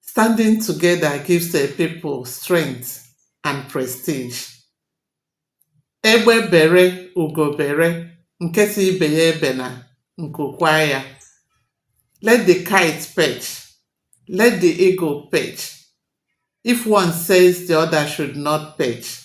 Standing together gives a people strength and prestige. Egbe bere ugo bere, nke si ibe ya ebena, nku kwaa ya. Let the kite perch, let the eagle perch. If one says the other should not perch,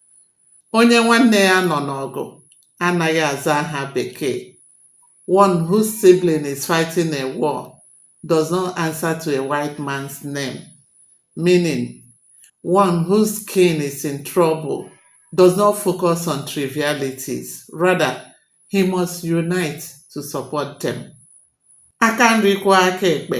Onye nwanne ya nọ n'ọgụ anaghị aza aha bekee. One whose sibling is fighting a war does not answer to a white man's name. Meaning, one whose kin is in trouble does not focus on trivialities. Rather, he must unite to support them. Aka nri kwọọ aka ekpe,